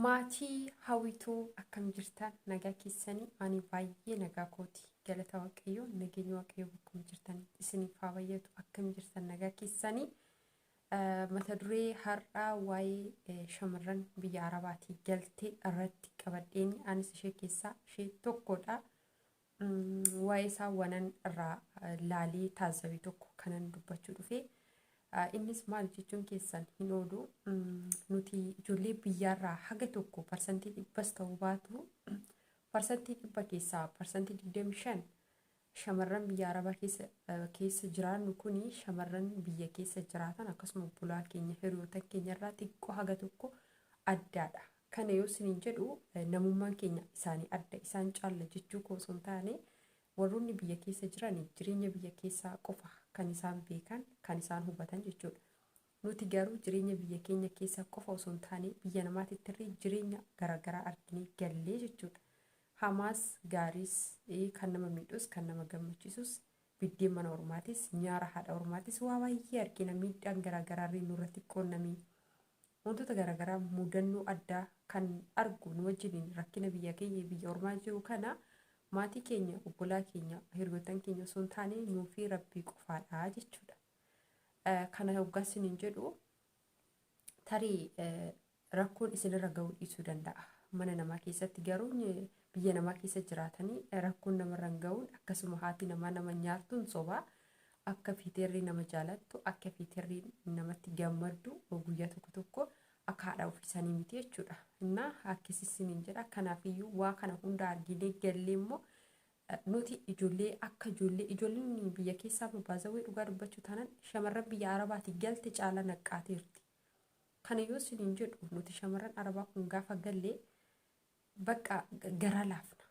Maatii hawwituu akkam jirtan nagaa keessanii ani baay'ee nagaa kooti galata waaqayyoo nageenya waaqayyoo bakkuma jirtan isiniif haa bayyatu akkam jirtan nagaa keessanii mata duree har'aa waa'ee shamarran biyya arabaatii galtee irratti qabadheeni anis ishee keessaa ishee tokkodha waa'ee isaa wanan irraa laalee taazzabe tokko kanan dubbachuu dhufe. Innis maal jechuun keessan hin oolu nuti ijoollee biyyaarraa haga tokko parsantii dhibbas ta'uu baatu parsantii dhibba keessaa parsantii digdami shan shamarran biyya arabaa keessa keessa jiraannu kuni shamarran biyya keessa jiraatan akkasuma bulaa keenya hiriyootan keenyarraa xiqqoo haga tokko addaadha Kana yoo isiniin jedhu namummaan keenya isaanii adda, isaan caalla jechuu koo osoo hin taane, warroonni biyya keessa jiran jireenya biyya keessaa qofa kan isaan beekan, kan isaan hubatan jechuudha. Nuti garuu jireenya biyya keenya keessaa qofa osoo hin taane biyya namaatittirree jireenya garaagaraa arginee gallee jechuudha. Hamaas, gaariis, kan nama miidhus, kan nama gammachiisus, biddeen mana ormaatis, nyaara haadha ormaatis waa baay'ee argina miidhaan garaagaraarree nurratti qunnamee. Wantoota garaagaraa mudannoo addaa kan argu nu wajjiniin rakkina biyya keenya biyya ormaa jiru kana maatii keenya obbolaa keenya hiriyoottan keenya osoo hin taane nuu fi rabbii qofaadha jechuudha. Kana hoggaa isiniin jedhu tarii rakkoon isinirra ga'uu dhiisuu danda'a. Mana namaa keessatti garuu biyya namaa keessa jiraatanii rakkoon namarra hin ga'uun akkasuma haati namaa nama nyaattuun sobaa Akka fiiterri nama jaalattu, akka fiiterri namatti gammaddu guyyaa tokko tokko akka haadha ofii sanii miti jechuudha. Innaa akkasi isiniin jedha. Kanaafiyyuu waa kana hunda arginee gallee immoo nuti ijoollee akka ijoollee ijoolleen biyya keessaa baazawwee dhugaa dubbachuu taanaan shamarran biyya arabaati galte caala naqqaateerti. Kana yoo isiniin jedhu nuti shamarran arabaa kun gaafa gallee Bakka garaa laafna.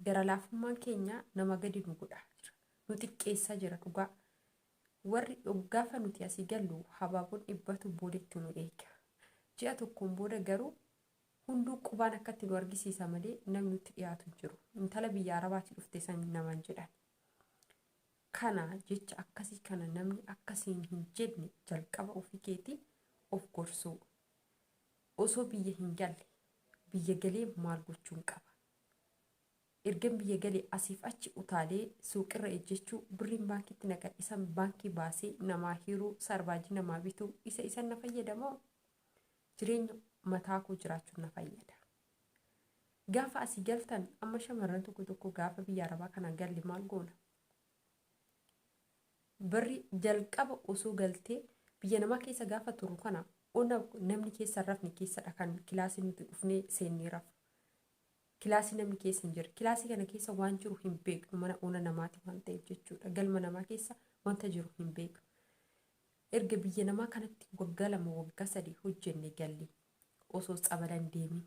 Gara laafummaan keenya nama gadi nu godhaa jira. Nu xiqqeessaa jira dhugaa. Warri gaafa nuti asii gallu habaaboon dhibbatu boodatti nu eega. Ji'a tokkoon booda garuu hunduu qubaan akkatti nu argisiisa malee namni nutti dhiyaatu hin jiru. Intala biyya arabaati dhufte san namaan jedhan. Kana jecha akkasii kana namni akkasiin hin jenne jalqaba ofii keetii of gorsuu. Osoo biyya hin galle biyya galee maal gochuun qaba? Ergan biyya gale asiif achi utaalee suuqirra ejjechuu, birriin baankiitti na gadhisan baankii baasee namaa hiruu, saarvaajii namaa bituu isa isan na fayyada moo jireenya mataa koo jiraachuun na fayyada? Gaafa asii galtan amma shamarran tokko tokko gaafa biyya arabaa kana galle maal goona? Barri jalqaba osoo galtee biyya namaa keessa gaafa turru kana ona namni keessa hin rafne keessadha kan kilaasii nuti dhufnee seennee rafu. Kilaasii namni keessa hin jirre. Kilaasii kana keessa waan jiru hin beeknu mana ona namaati waan ta'eef jechuudha. Galma namaa keessa wanta jiru hin beeknu. Erga biyya namaa kanatti waggaa lama waggaa sadii hojjenne galle osoo tsabalan deemin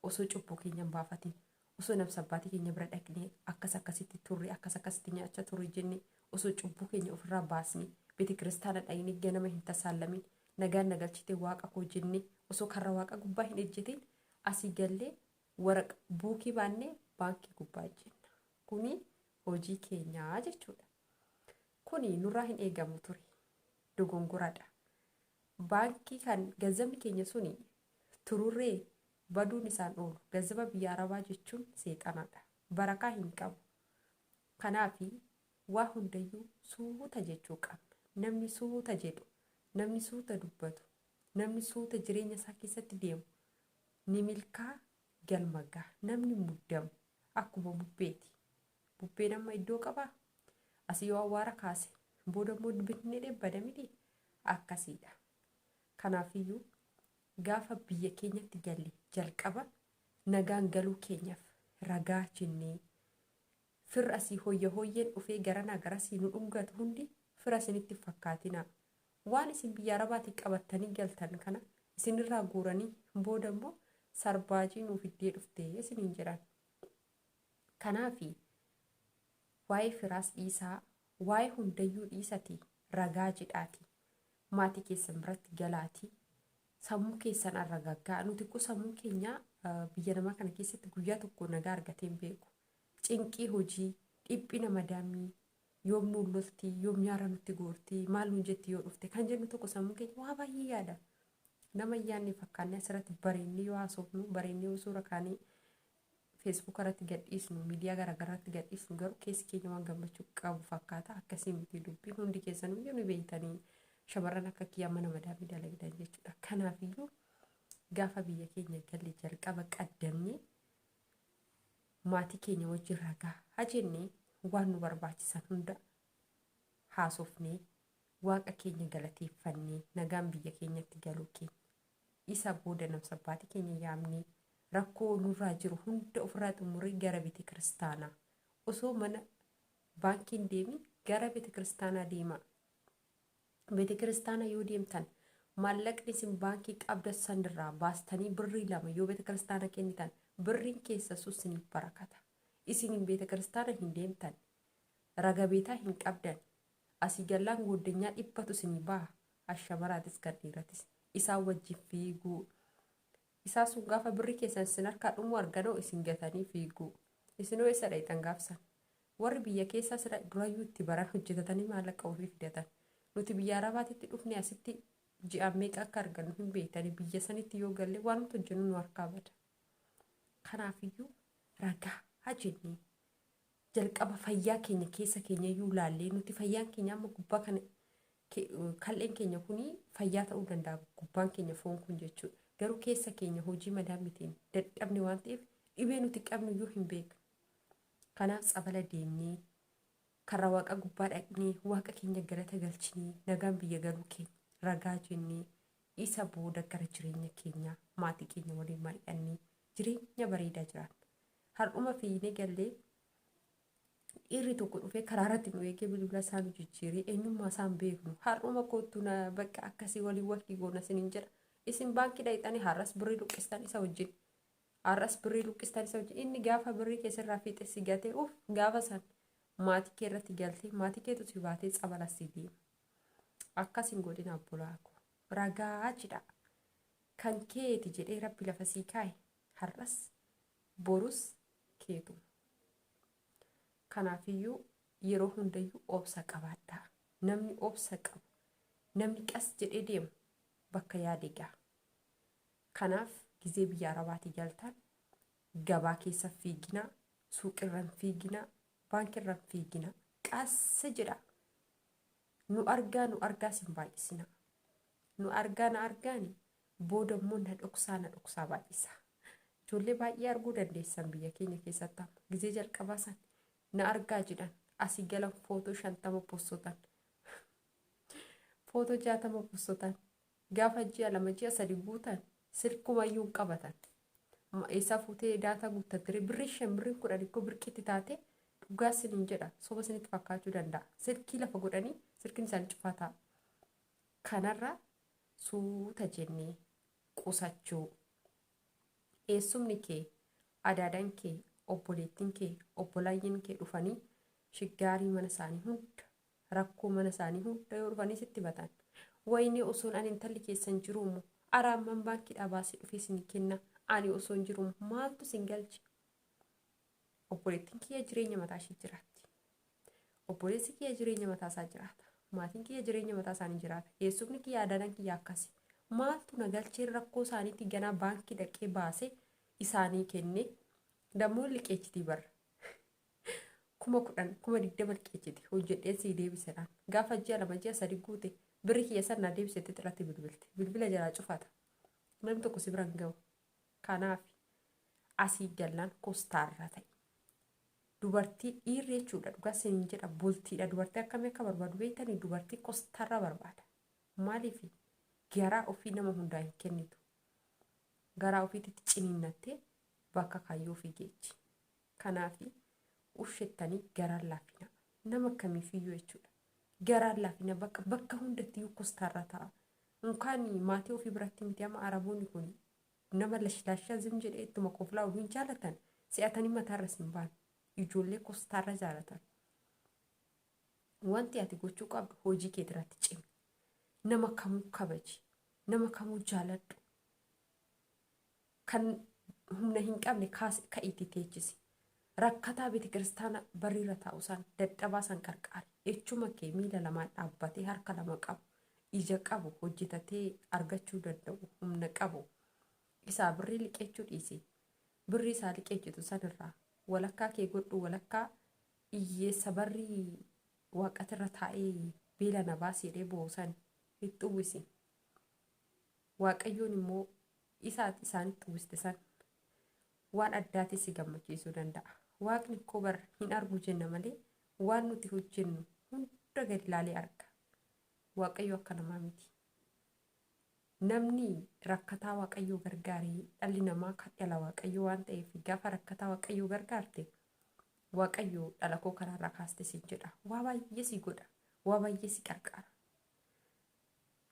osoo cubbuu keenya hin baafatin osoo nabsa abbaatii keenya bira dhaqnee akkas akkasitti turre akkas akkasitti nyaachaa turre jenne osoo cubbuu keenya ofirraa baasne beete kiristaana dhaqnee ganama hin tasaallamin nagaan na galchite waaqa koo jenne osoo karra waaqa gubbaa hin ejjetin asii gallee waraqa buukii baannee baankii gubbaa ejjenna kuni hojii keenyaa jechuudha kuni nurraa hin eegamu ture dogongoradha baankii kan ganzabni keenya suni tururree? Baduun isaan oolu. Gazaba biyya Arabaa jechuun seexanadha. Barakaa hin qabu. Kanaafi, waa hundayyuu suuta jechuu qabna. Namni suuta jedhu, namni suuta dubbatu, namni suuta jireenya isaa keessatti deemu ni milkaa, galma gaha. Namni muddamu akkuma bubbeeti. Bubbeen amma iddoo qabaa? Asii yoo awwaara kaase, booda immoo binnee dheebbada miti? Akkasiidha. Kanaafiyyuu, gaafa biyya keenyatti galle jalqaba nagaan galuu keenyaf ragaa jennee, firri asii hoyya hoyyeen dhufee garanaa garasii nu dhungatu hundi fira isinitti hin fakkaatinaa. Waan isin biyya Arabaatii qabattanii galtan kana isinirraa guuranii booda immoo sarbaajii nuu fiddee dhufte isiniin jedhan. Kanaafi, waa'ee firaas dhiisaa, waa'ee hundayyuu dhiisatii ragaa jedhaatii maatii keessan biratti galaatii sammuu keessan arragaggaa nuti kko sammuu keenya biyya namaa kana keessatti guyyaa tokko nagaa argateen beeku cinqii hojii dhiphina madaamii yoom nuun loltii yoom nyaara nutti goortii maal nuun jetti yoo dhufte kan jennu tokko sammuu keenya waa baay'ee yaada nama yaanni fakkaanne asirratti bareennee yoo haasofnu bareennee yoo suura kaanee Facebook irratti gadhiisnu, miidiyaa garaagaraa irratti gadhiisnu garuu keessi keenya waan gammachuu qabu fakkaata. Akkasii miti dubbiin hundi keessanuu iyyuu ni beektanii shamarran akka kiyyaa mana madaamii dalagdan jechuudha. Kanaaf iyyuu gaafa biyya keenya galle jalqaba qaddamnee maatii keenya wajjin ragaa hajennee waan nu barbaachisan hunda haasofnee waaqa keenya galateeffannee nagaan biyya keenyatti galuu keenya Isa booda namsabbaati keenya yaamnee rakkoo nurraa jiru hunda ofirraa xumurree gara bete kiristaanaa osoo mana baankii hin deemin gara bete kiristaanaa deemaa. Bete kiristaanaa yoo deemtan maallaqni isin baankii qabda sanirraa baastanii birrii lama yoo bete kiristaana kennitan birriin keessa sun isiniif barakata. Isin bete kiristaana hin deemtan raga beetaa hin qabdan asii gallaan gooddanyaa dhibbatu isinii baha as shamaraatis kan dhiiratis isaan wajjin fiiguu isaa sun gaafa birri keessan isin harkaa dhumuu arganoo isin gatanii fiiguu isinoo isa dhayxan gaafsan warri biyya keessaa sira durayyuu itti baran hojjetatanii maallaqa ofii fidatan nuti biyya arabaatitti dhufne asitti ji'aan meeqa akka argannu hin beektanii biyya sanitti yoo galle waan nuti hojjennu nu harkaa bada kanaafiyyuu ragaa hajennee jalqaba fayyaa keenya keessa keenya iyyuu laallee nuti fayyaan keenya amma gubbaa kana ke- kal'een keenya kun fayyaa ta'uu danda'a gubbaan keenya foon kun jechuudha garuu keessa keenya hojii madaa mitiin dadhabne waan ta'eef dhibee nuti qabnu iyyuu hin beeknu kanaaf tsabala deemnee karra waaqa gubbaa dhaqnee waaqa keenya galata galchinee nagaan biyya galuu keenya ragaa jennee isa booda gara jireenya keenyaa maatii keenya waliin mari'annee jireenya bareedaa jiraanna Har'uma fiiynee gallee dhiirri tokko dhufee karaa irratti nu eegee bilbila isaa nu jijjiiree eenyummaa isaa hin beeknu har'uma koottu na bakka akkasii waliin waqtii goona isiniin jedha isin baankii dhaqxanii har'as birrii luqqistan isa wajjin har'as birrii luqqistan isa wajjin inni gaafa birrii kee sirraa fiixe si gatee uuf gaafa san maatii kee irratti galtee maatii keetu si baatee tsabala si deema akkas hin godhin abbolaa koo ragaa cidhaa kan keeti jedhee rabbi lafa sii kaa'e Har'as borus keetuma. Kanaafiyyuu yeroo hundayyuu obsa qabaadhaa. Namni obsa qabu, namni qas jedhee deemu bakka yaade gaha. Kanaaf gizee biyya Arabaatii galtaan gabaa keessa hin fiiginaa, suuqirra hin fiiginaa, baankirra hin fiiginaa. Qas jedhaa. Nu argaa nu argaa sin baay'isinaa. Nu argaa na argaani Booda immoo na dhoksaa na dhoksaa baay'isaa. Ijoollee baay'ee arguu dandeessan biyya keenya keessatti amma. Gizee jalqabaa san na argaa jedhan asii galan footoo shantama possotan. Footoo jaatama possotan. Gaafa ji'a lama ji'a sadi guutan silkuma iyyuu hin qabatan. Ma- Eessaa fuutee daataa guuttattire birrii shan birrii kudhan ikkoo birqitti taate dhugaa sin hin jedha soba sinitti fakkaachuu danda'a. Silkii lafa godhanii silkiin isaanii cufaa ta'a. Kanarraa suuta jennee qusachuu. Eessumni kee, adaadan kee, obboleettin kee, obbolaayyin kee dhufanii shiggaarii mana isaanii hunda, rakkoo mana isaanii hunda yoo dhufanii sitti himatan, wayinee osoon ani intalli keessan jiruumo, ara amman baankiidhaa baasee dhufee isinii kenna, ani osoon jiruumo maaltu isin galche? Obboleettiin kiyya jireenya mataa ishii jiraatti. Obboleessi kiyya jireenya mataa isaa jiraata. Maatiin kiyya jireenya mataa isaanii jiraata. Eessumni kiyya adanan kiyya akkasi. Maaltu na galchee rakkoo isaaniitti ganaa baankii dhaqee baasee isaanii kenne dammoo liqeechitii barra. kuma kudhan kuma digdama liqeechiti hojjedheen sii deebisedhaan gaafa ji'a lama ji'a sadi guute birri kiyya san naa deebisetti xilatti bilbilte bilbila jalaa cufata namni tokko si biran gahu Kanaafi asii gallaan kostaarra ta'i. Dubartii dhiirri jechuudha dhugaa sinin jedha bultiidha dubartii akkamii akka barbaadu beektanii dubartii kostaarra barbaada. Maaliif garaa ofii nama hundaa hin kennitu. Garaa ofiititti ciniinnattee bakka kaayyoo ofii geechi. Kanaafi ushettani garaan laafina nama akkamiifiyyuu jechuudha. Garaan laafina bakka bakka hundattiyyuu kostaarraa ta'a. Unkaan maatii ofii biratti miti ama araboonni kun nama lashlashaa zim jedhee ittuma koflaa'u hin jaalatan si'atanii mataarra sin baan ijoollee kostaarra jaalatan. Wanti ati gochuu qabdu hojii kee irratti cimi. Nama kamuu kabaji. Nama kamuu jaaladhu. Kan humna hin qabne kaasi ka'iitii teechisi. Rakkataa betekiristaana barriirra taa'u san, dadhabaa san qarqaari. Echuma kee miila lamaan dhaabbatee harka lama qabu, ija qabu, hojjetatee argachuu danda'u, humna qabu. Isaa birrii liqeechuu dhiisi. Birrii isaa liqeechitu san irraa walakkaa kee godhu walakkaa iyyeessa barrii waaqatirra taa'ee beela na baasi jedhee boo'u san itti uwwisi. Waaqayyoon immoo Isa ati isaanitti uwwiste san waan addaatiin si gammachiisuu danda'a. Waaqni koo bar hin argu jenna malee waan nuti hojjennu hunda gadi ilaalee arga. Waaqayyo akka namaa miti. Namni rakkataa Waaqayyoo gargaare dhalli namaa kan dhala Waaqayyoo waan ta'eef gaafa rakkataa Waaqayyoo gargaarte Waaqayyo dhala koo kanarraa kaaste siin jedha. Waa baay'ee si godha. Waa baay'ee si qarqaara.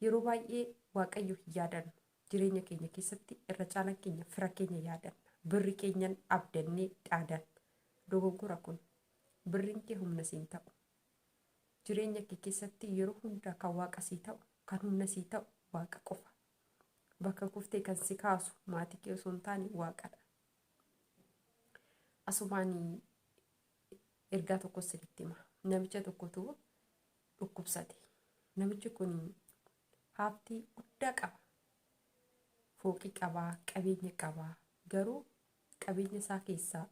Yeroo baay'ee Waaqayyo hin yaadannu. Jireenya keenya keessatti irra caalaan keenya fira keenya yaadanna. Birri keenyan abdannee dhaadan. Dogoggora kun. Birriin kee humna siin ta'u. Jireenya kee keessatti yeroo hundaa kan waaqa sii ta'u, kan humna sii ta'u waaqa qofa. Bakka kuftee kan si kaasu maatii kee osoo hin taane waaqadha. Asumaan ergaa tokko isinitti hima. Namicha tokkotu dhukkubsate. Namichi kun Haafti guddaa qaba. Fooqii qaba, qabeenya qaba. Garuu qabeenya isaa keessaa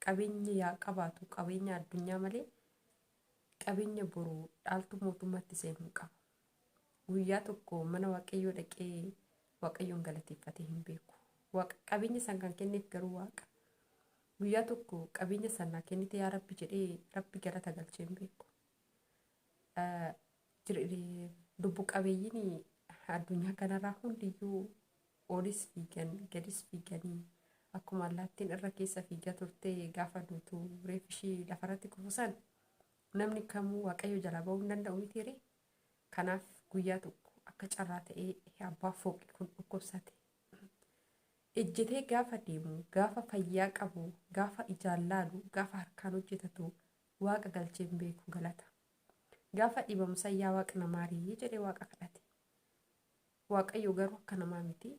qabeenya yaa qabaatu qabeenya addunyaa malee qabeenya boru dhaaltuu mootummaatti seenu hin qabu. Guyyaa tokko mana waaqayyoo dhaqee waaqayyoon galateeffatee hin beeku. Waaqa qabeenya san kan kenneef garuu waaqa. Guyyaa tokko qabeenya san naa kennite yaa rabbi jedhee rabbi galata galchee hin beeku. Lubbu qabeeyyiin addunyaa kanarraa hundiyyuu olis fiigan gadis fiiganii akkuma allaattiin irra keessa fiigaa turte gaafa duutu reef ishii lafarratti kufusan namni kamuu waaqayyo jalaa ba'uu hin danda'u miti ree kanaaf guyyaa tokko akka carraa ta'ee abbaa fooqii kun dhukkubsate ejjetee gaafa deemu gaafa fayyaa qabu gaafa ijaan laalu gaafa harkaan hojjetatu Waaqa galchee hin beeku galata. Gaafa dhibamu san yaa Waaqa na maari jedhee Waaqa kadhate. Waaqayyo garuu akka namaa miti.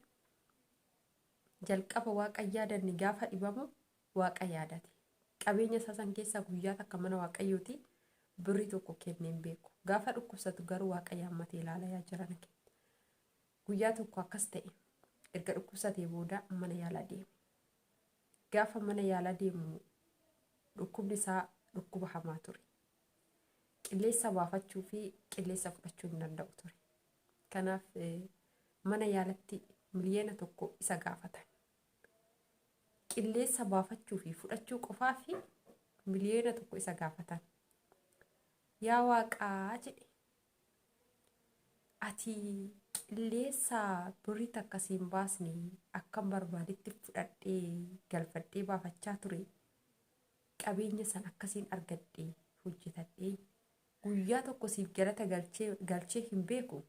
Jalqaba Waaqa hin yaadanne gaafa dhibamu Waaqa yaadate. Qabeenya isaa san keessaa guyyaa takka mana Waaqayyooti birrii tokko kennee hin beeku. Gaafa dhukkubsatu garuu Waaqa yaammatee ilaala yaa jirana kee. Guyyaa tokko akkas ta'e erga dhukkubsatee booda mana yaalaa deeme. Gaafa mana yaalaa deemu dhukkubni isaa dhukkuba hamaa ture. Qilleessa baafachuu fi qilleessa fudhachuu hin danda'u ture. Kanaaf mana yaalatti miliyoona tokko isa gaafatan. Qilleessa baafachuu fi fudhachuu qofaa fi miliyoona tokko isa gaafatan. Yaa waaqaa jedhe Ati qilleessa birrii takka si hin baasne akkan barbaadetti fudhadhee galfadhee baafachaa ture. Qabeenya san akkasiin argadhe hojjetadhee guyyaa tokko siif galata galchee galchee hin beeku.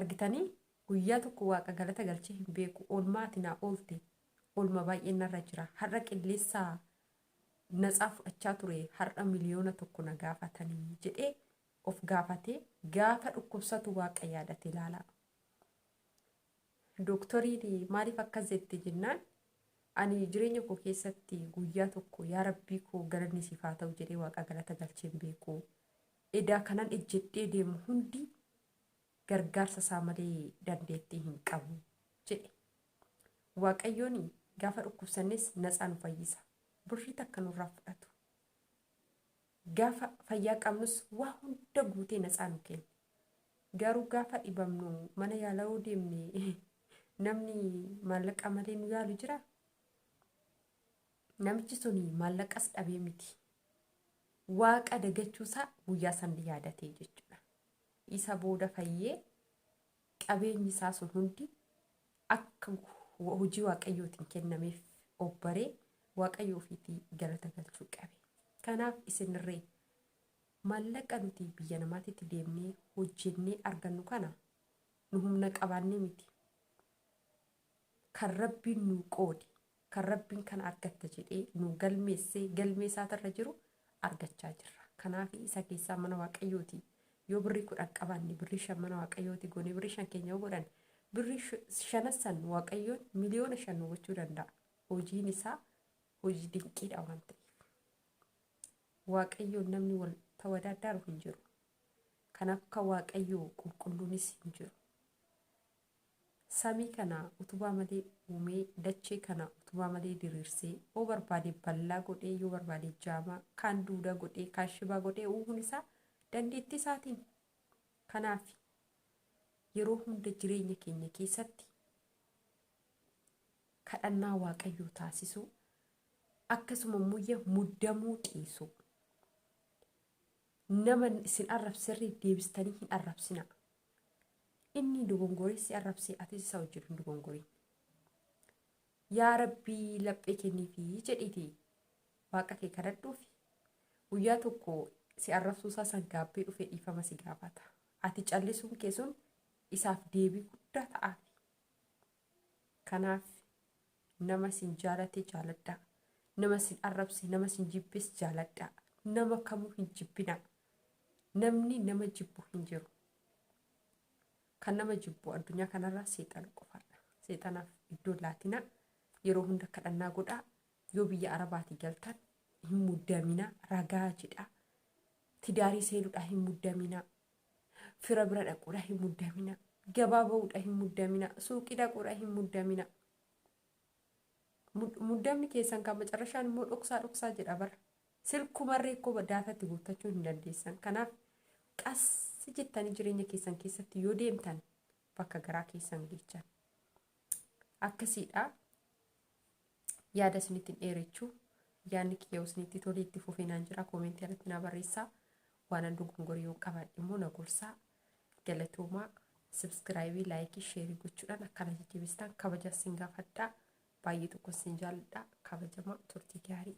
Argitanii guyyaa tokko waaqa galata galchee hin beeku. Oolmaa ati naa oolte oolma baay'een narra jira. Har'a qilleessa natsaa fudhachaa ture har'a miliyoona tokko na gaafatanii jedhee of gaafate gaafa dhukkubsatu waaqa yaadate ilaalaa. Dooktoriin maaliif akkas jette jennaan ani jireenya koo keessatti guyyaa tokko yaa rabbii koo galanni siif haa ta'u jedhee waaqa galata galcheen beeku. Edaa kanan ejjedhee deemu hundi gargaarsa isaa malee dandeettii hin qabu jedhe. Waaqayyoon gaafa dhukkubsannes natsaa nu fayyisa. Birrii takka nurraa fudhatu. Gaafa fayyaa qabnus waa hunda guutee natsaa nu kenna. Garuu gaafa dhibamnu mana yaalaa yoo deemne namni maallaqa malee nu yaalu jira. Namichi sun maallaqas dhabee miti. Waaqa dagachuusaa guyyaa san yaadatee jechuudha. Isa booda fayyee qabeenyi isaa sun hundi akka hojii Waaqayyootiin kennameef obbaree Waaqayyo ofiitii galata galchuu qabe. Kanaaf isinirree maallaqa nuti biyya namaatitti deemnee hojjennee argannu kana nu humna qabaannee miti. Kan Rabbiin nuu qoode Kan Rabbiin kana argatta jedhee nuu galmeesse galmee isaatirra jiru argachaa jirra. Kanaafi isa keessaa mana Waaqayyooti yoo birrii kudhan qabaanne birrii shan mana Waaqayyooti goonee birrii shan keenya yoo godhanne birrii shanan san Waaqayyoon miliyoona shan nu gochuu danda'a. Hojiin isaa hojii dinqiidha waan ta'eef. Waaqayyoon namni wal tawadaadaaru hin jiru. Kanaaf akka Waaqayyoo qulqulluunis hin jiru. Samii kana utubaa malee uumee, dachee kana utubaa malee diriirsee, oo barbaade bal'aa godhee, yoo barbaade jaamaa, kaan duudaa godhee, kaan shibaa godhee uumuun isaa dandeettii isaatiin. Kanaaf yeroo hunda jireenya keenya keessatti kadhannaa waaqayyoo taasisuu akkasuma immoo muddamuu dhiisuu Nama isin arrabserriif deebistanii hin arrabsinaa. Inni dogongoree si arrabsee atis isa wajjin hin dogongorin. Yaa Rabbii laphee kenniifi jedhiiti waaqa kee kadhadhuufi. Guyyaa tokko si arrabsuu isaa san gaabbee dhufee dhiifama si gaafata. Ati callisuun kee sun isaaf deebii guddaa ta'aafi. Kanaaf nama isin jaalate jaaladhaa. Nama isin arrabse, nama isin jibbes jaaladhaa. Nama kamuu hin jibbinaa. Namni nama jibbu hin jiru. Kan nama jibbu addunyaa kanarraa seexana qofaadha. Seexanaaf iddoo hin laatinaa. Yeroo hunda kadhannaa godhaa. Yoo biyya Arabaatii galtan hin muddaminaa. Ragaa jedhaa. Tidaarii seenuudhaa hin muddaminaa. Fira bira dhaquudha hin muddamina. Gabaa ba'uudha hin muddamina. Suuqii dhaquudha hin muddamina. Mud- Muddamni keessan kan macarrashaan immoo dhoksaa dhoksaa jedha bara. Silkumarree koo daataa itti guuttachuu hin dandeessan. Kanaaf qas jettanii jireenya keessan keessatti yoo deemtan bakka garaa keessan geechan. Akkasiidha. yaada isinitti hin dheerechu yaadni kiyya isinitti tolee itti fufee naan jira koomentii irratti naa barreessaa waanan dogongore yoon qabaadhe immoo na gorsaa galatoomaa subscribe laayikii sheerii gochuudhaan akkana jajjabeessitan kabajaa sin gaafadhaa baay'ee tokko sin jaalladha kabajama turtii gaarii.